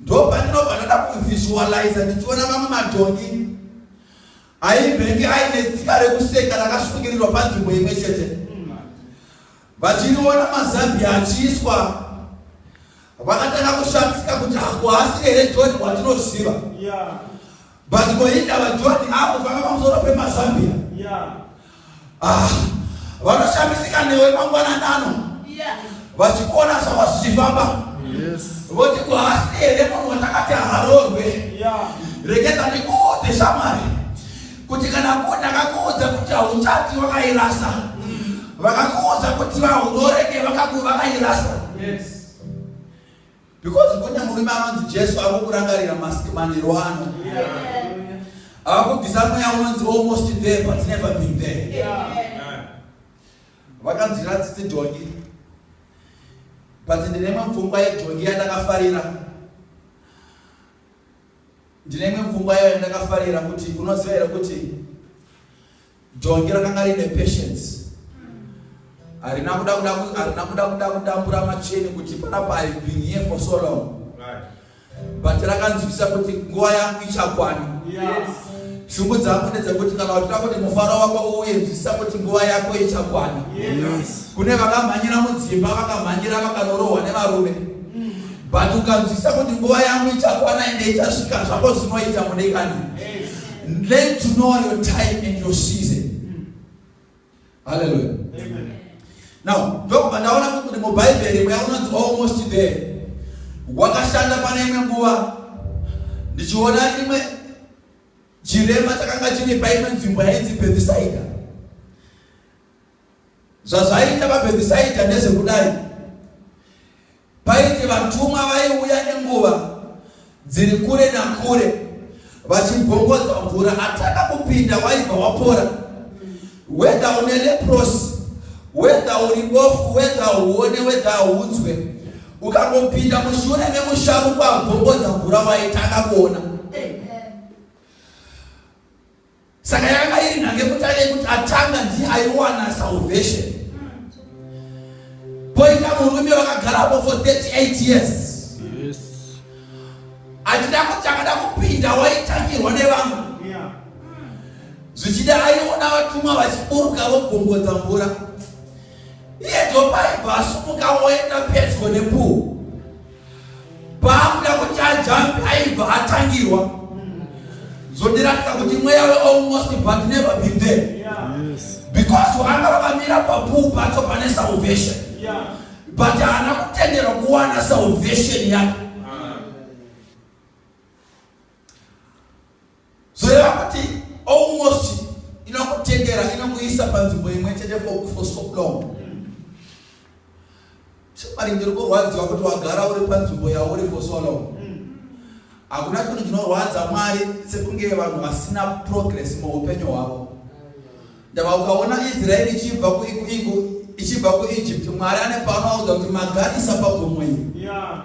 Ndopandinobva ndoda kuvisualiza ndichiona mamwe madhongi aimbenge aine tsika rekuseka rakasungirirwa panzvimbo imwe chete vachiriona mazambi achiiswa vakatanga kushamisika kuti hakuhasi here joni watinoziva But ko inda vaJohn avo vanga pamusoro pemazambia. Yeah. Ah, vanoshamisika newe mangwanani ano. Yeah. Vachikuona zvava zvichifamba. Yes. Voti ko hasi here munhu watakati haroorwe. Yeah. Regedza ndikuudze shamwari kuti kana ko ndakakuudza kuti hauchati wakairasa. Mm. Vakakuudza kuti vahuroreke vakaku vakairasa. Yes. because kune murume anonzi jesu ari kukurangarira mask manhero ano akubvisa mweya unonzi almost there but never been there vakanzwira tsitsi dhongi but ndine imwe pfungwa yedhongi yandakafarira ndine imwe pfungwa yayo yandakafarira kuti unoziva here kuti Jongi rakanga rine patience. Harina kuda kuda harina kuda kuda kudambura macheni kuti panapa I've been here for so long. Right. But rakanzwisa kuti nguva yangu ichakwana. Yes. Shungu dzangu ndedzekuti kana uchida kuti mufaro wako uuye nzwisa kuti nguva yako ichakwana. Yes. Kune vakamhanyira mudzimba vakamhanyira vakanorohwa nevarume. Mm. But ukanzwisa kuti nguva yangu ichakwana ende ichasvika zvako zvinoita mudekani. Yes. Learn to know your time and your season. Hallelujah. Amen. Now, ndokuba ndaona kuti mubhaibheri mweya unonzi almost there. Wakashanda pane imwe nguva ndichiona imwe chirema chakanga chiri paimwe nzvimbo yainzi Bethsaida. Zvazvaita vaBhethisaidha ndezvekudai, Paiti vatumwa vaiuya nenguva dziri kure nakure vachibvongodza mvura, atanga kupinda waibva wapora. Wedha une leprosi, wedha uri bofu, wedha uone, wedha aunzwe, ukangopinda mushure memusharuko abvongodza mvura waitanga kuona. saka yanga iri nhange kutanga yekuti atanga ndiye aiwana salvation poita murume vakagarapo for 38 years achida kuti akada kupinda waitangirwa nevamwe zvichida aiona vatumwa vachiburuka vobvongodza mvura iye ndopaibva asumuka woenda pedyo nepuhu paakuda kuti ajambi aibva atangirwa zvondiratidza kuti mweya wealmost but never been there because vanga vakamira papuu pacho pane salvation but haana kutenderwa kuwana salvation yake zoreva kuti almost inokutendera inokuisa panzvimbo imwe chete for, for so long chemari ndiri kurwadziwa kuti wagara uri panzvimbo yauri for so long hakuna chinhu chinorwadza mwari sekunge vanhu vasina progress muupenyu hwavo ndava ukaona israeri ichibva kuichibva kuegypt mwari ane paanoaudza kuti magarisa pagomo iri yeah.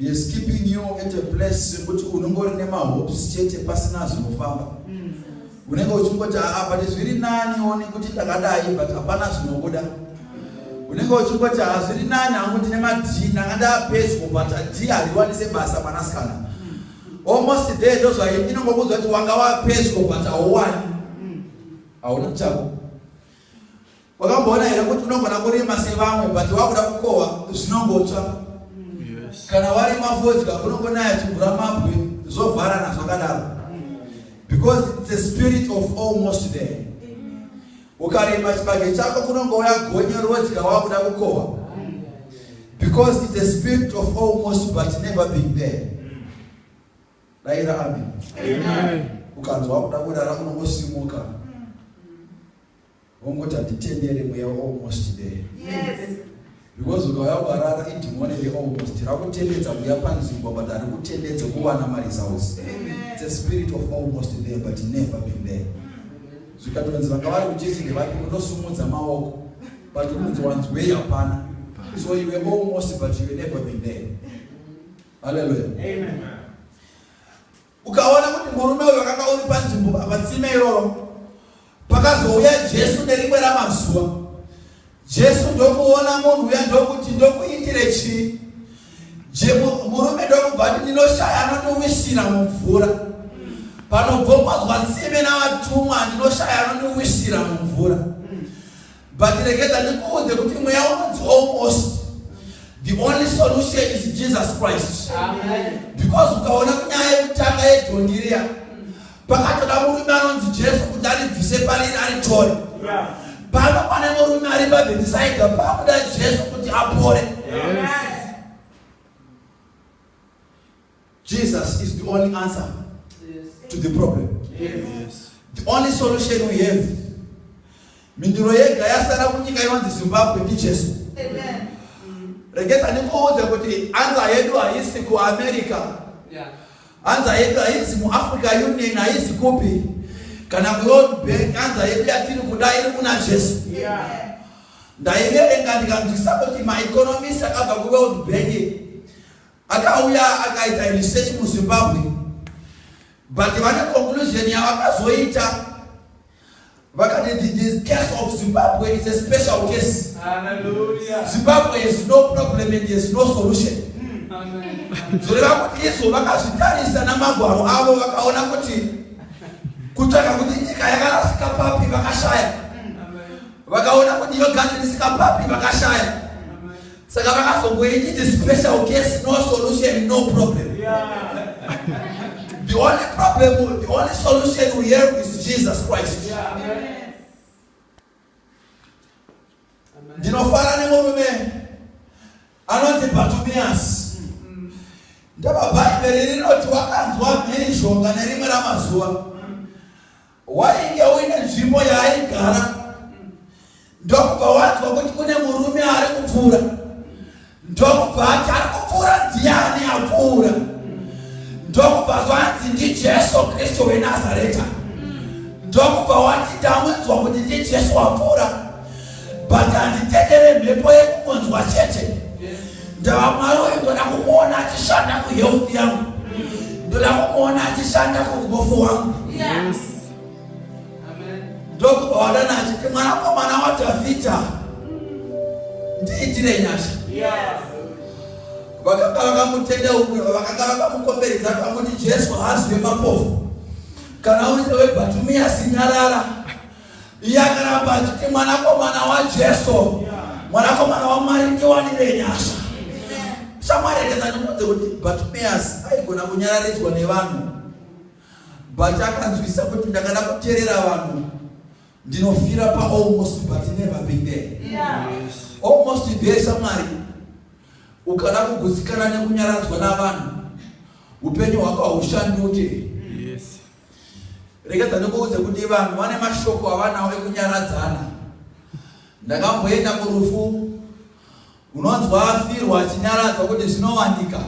He is keeping you at a place yekuti unongori nemahopes chete pasina zvinofamba mm. unenge uchingoti aa ah, but zviri nani one kuti ndakadai but hapana zvinobuda unenge uchingoti haa ah, zviri nani hangu ndine madii ndanga ndapedyo but adii hariwanise basa mwanasikana mm. almost there ndozvai inongokuudza kuti wanga wapedyo but hauwani mm. hauna chako wakamboona here kuti unogona kurima sevamwe but wakuda kukohwa zvinongotsva kana warima fodya unongonaya chimvura mabwe zvovharana zvakadaro because the spirit of almost there ukarima chibage chako kunongouya gonye rodya wakuda kukohwa because the spirit of almost but never been there daira amen ukanzwa wakuda kurara unongosimuka ongoti handitendere mweya almost there yes. because ukauya ukarara idhimoni re almost rakutendedza kuya panzvimbo but ari kutendedze kuwana maresults its a spirit of almost there but never been there zvikatonzi vanga vari kuchechi ndevapi unosumudza maoko but kunzi wanzwei hapana so you were almost but you were never been there halleluya Ukaona kuti murume uyu wakanga uri panzvimbo patsime iroro, pakazouya Jesu nerimwe ramazuva. Jesu ndokuona munhu uya ndokuti ndokuitire chii? Murume ndokubva ati ndinoshaya anondiwisira mumvura. Panobvombodzwa tsime navatumwa ndinoshaya anondiwisira mumvura. But regeza ndikuudze kuti mweya unonzi almost the only solution is Jesus Christ. Amen. Because ukaona kunyaya yekutanga yedhondi riya pakatoda murume anonzi Jesu kuti aribvise pariri aritore. Yeah. Pano pane murume ari pabhetisaidha pakuda Jesu kuti apore. Yes. Jesus is the only answer yes. to the problem. Yes. The only solution we have. Mindiro yega yasara kunyika inonzi Zimbabwe ndi Jesu. Amen. Regeta ndikuudze kuti anza yedu haisi ku America. Yeah. Anza yedu haisi mu Africa Union haisi kupi. Kana ku World Bank anza yedu yatiri kuda iri kuna Jesu. Yeah. Ndaiverenga ndikanzwisisa kuti ma economist akabva ku World Bank. Yeah. Akauya akaita research muZimbabwe but vane conclusion yavakazoita vakati the case of Zimbabwe is a special case. Hallelujah. Zimbabwe has no problem and has no solution. zvoreva kuti izvo vakazvitarisa namagwaro avo vakaona kuti kutsvaga kuti nyika yakarasika papi vakashaya vakaona kuti yogati risika papi vakashaya saka vakazongoiti the special case no solution no problem the only problem the only solution we have is jesus christ ndinofara nemurume anonzi batumias ndababhaibheri rinoti wakanzwa mhirizhonga nerimwe ramazuva wainge uine nzvimbo yaaigara ndokubva wanzwa kuti kune murume ari kupfuura ndokubva ati ari kupfuura ndiani apfuura ndokubva zvanzi ndijesu kristu wenazareta ndokubva wati ndamunzwa kuti ndijesu wapfuura but handitendere mhepo yekungonzwa chete ndava mwari uyu ndoda kumuona achishanda kuhealth yangu ndoda kumuona achishanda kuubofu wangu ndokubva wadana achiti mwanakomana wadhavhidha ndiitire nyasha vakanga vakamutenda umwe vakanga vakamukomberedza kakuti jesu hazive mapofu kana uri sewebatumiyasi nyarara iye akaramba achiti mwanakomana wajesu mwanakomana wamwari ndiwanire nyasha shamwari yakataniudze kuti bartimeus aigona kunyararidzwa nevanhu but akanzwisa kuti ndakada kuterera vanhu ndinofira paalmost but never been there almost there shamwari ukada kugutsikana nekunyaradzwa navanhu upenyu hwako haushanduke Rega dzandikuudze kuti vanhu vane mashoko avanawo ekunyaradzana. Ndakamboenda kurufu unonzwa afirwa achinyaradzwa kuti zvinowanika.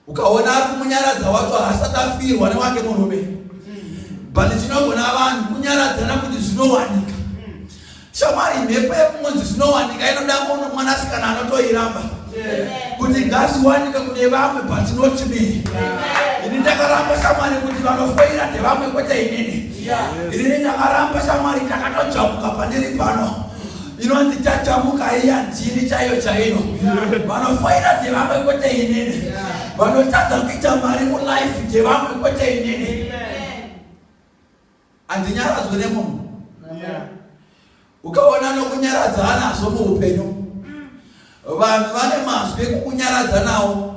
Ukaona ari kumunyaradza wacho haasati afirwa newake murume. But chinogona vanhu kunyaradzana kuti zvinowanika. Shamwari mhepo yekumudzi zvinowanika inoda kuno mwanasikana anotoiramba kuti ngaziwanike kune vamwe but not me ini ndakaramba shamwari kuti vanofoira ndevamwe kwete inini inini ndakaramba shamwari ndakatojamuka pandiri pano inonzi tajamuka iya ndini chaiyo chaiyo vanofoira ndevamwe kwete inini vanotadza kuita mari mulife ndevamwe kwete inini handinyaradzwe nemunhu ukaona nokunyaradza anazvo muupenyu vanhu vane mazwi ekukunyaradza nawo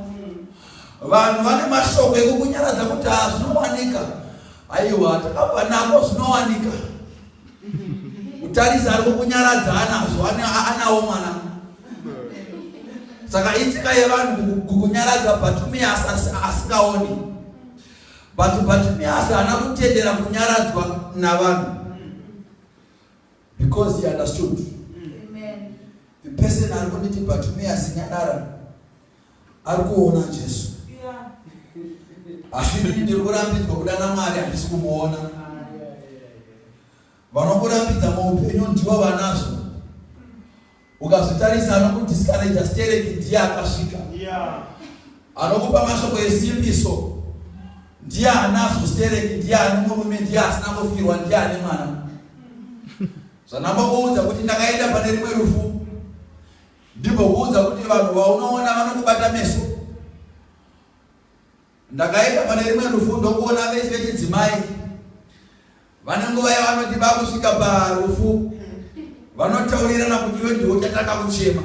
vanhu vane mashoko ekukunyaradza kuti haa zvinowanika aiwa takabva nako zvinowanika kutarisa ari kukunyaradza anazvo anawo mwana saka itsika yevanhu kukunyaradza but me asingaoni But Bartimaeus haana kutendera kunyaradzwa navanhu because he understood. Amen. The person ari kunditi Bartimaeus nyarara ari kuona Jesu. Yeah. Asi ndiri kurambidzwa kuda naMwari handisi kumuona. vanokurambidza muupenyu ndivo vanazvo ukazvitarisa anokudiscouraja stereki ndiye akasvika anokupa mashoko esimbiso ndiye anazvo stereki ndiye ani murume ndiye asina kufirwa ndiye ane mwana zvanambokuudza kuti ndakaenda pane rimwe rufu ndimbokuudza kuti vanhu vaunoona vanokubata meso Ndakaenda pane rimwe rufu ndokuona vese vechidzimai vane nguva yavanoti vakusvika parufu vanotaurirana kuti iwe ndiwo chatanga kuchema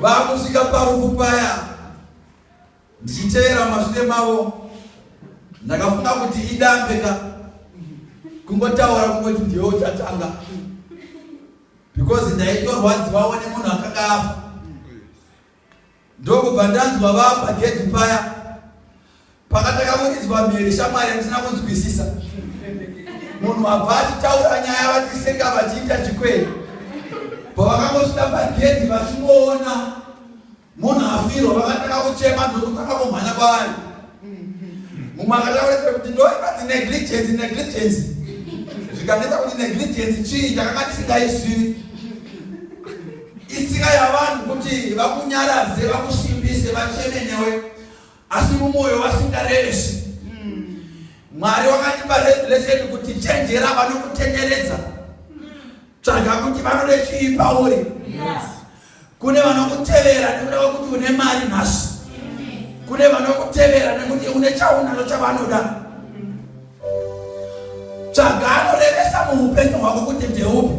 vakusvika parufu paya ndichitevera mashure mavo ndakafunga kuti idambe ka kungotaura kungoti ndiwe uchatanga because ndaitorwadziwawo nemunhu akakafa ndokubva ndanzwa vapa gedhi paya pakatanga kunizwa mhere shamwari handina kunzwisisa munhu abva achitaura nyaya vatiseka vachiita chikwere pavakangosvika pagedhi vachingoona munhu afirwa vakatanga kuchema ndokutanga kumhanya kwavari mumwe akataurisa kuti ndoibati negligence negligence zvikaneta kuti negligence chii ndakanga ndisingaisivi Itsika yavanhu kuti vakunyaradze, vakusimbise, vacheme newe asi mumwoyo vasingarevesi. Mwari wakatipa revelation kuti chenjera vanokutenderedza. Tsvaga kuti vanode chii pauri. Yes. Kune vanokutevera nekuda kwekuti une mari nhasi. Kune vanokutevera nekuti une chaunacho chavanoda. tsvaga anorevesa muupenyu hwako kuti ndeupi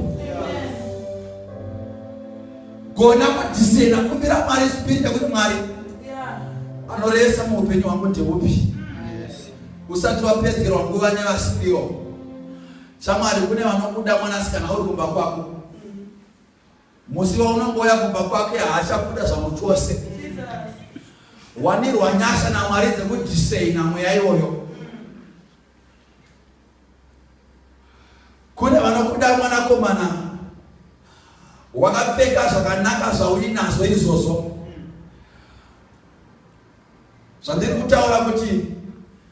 gona kudhisena kumbira mwari spirita kuti mwari anorevesa muupenyu hwangu ndeupi usati wapedzerwa nguva nevasiriwo shamwari kune vanokuda mwanasikana uri kumba kwako musi waunongoya kumba kwake haachakuda zvangu chose wanirwa nyasha namwari dzekudisaina mweya iyoyo kune vanokuda mwanakomana wakapfeka zvakanaka zvauinazvo izvozvo zvandiri kutaura kuti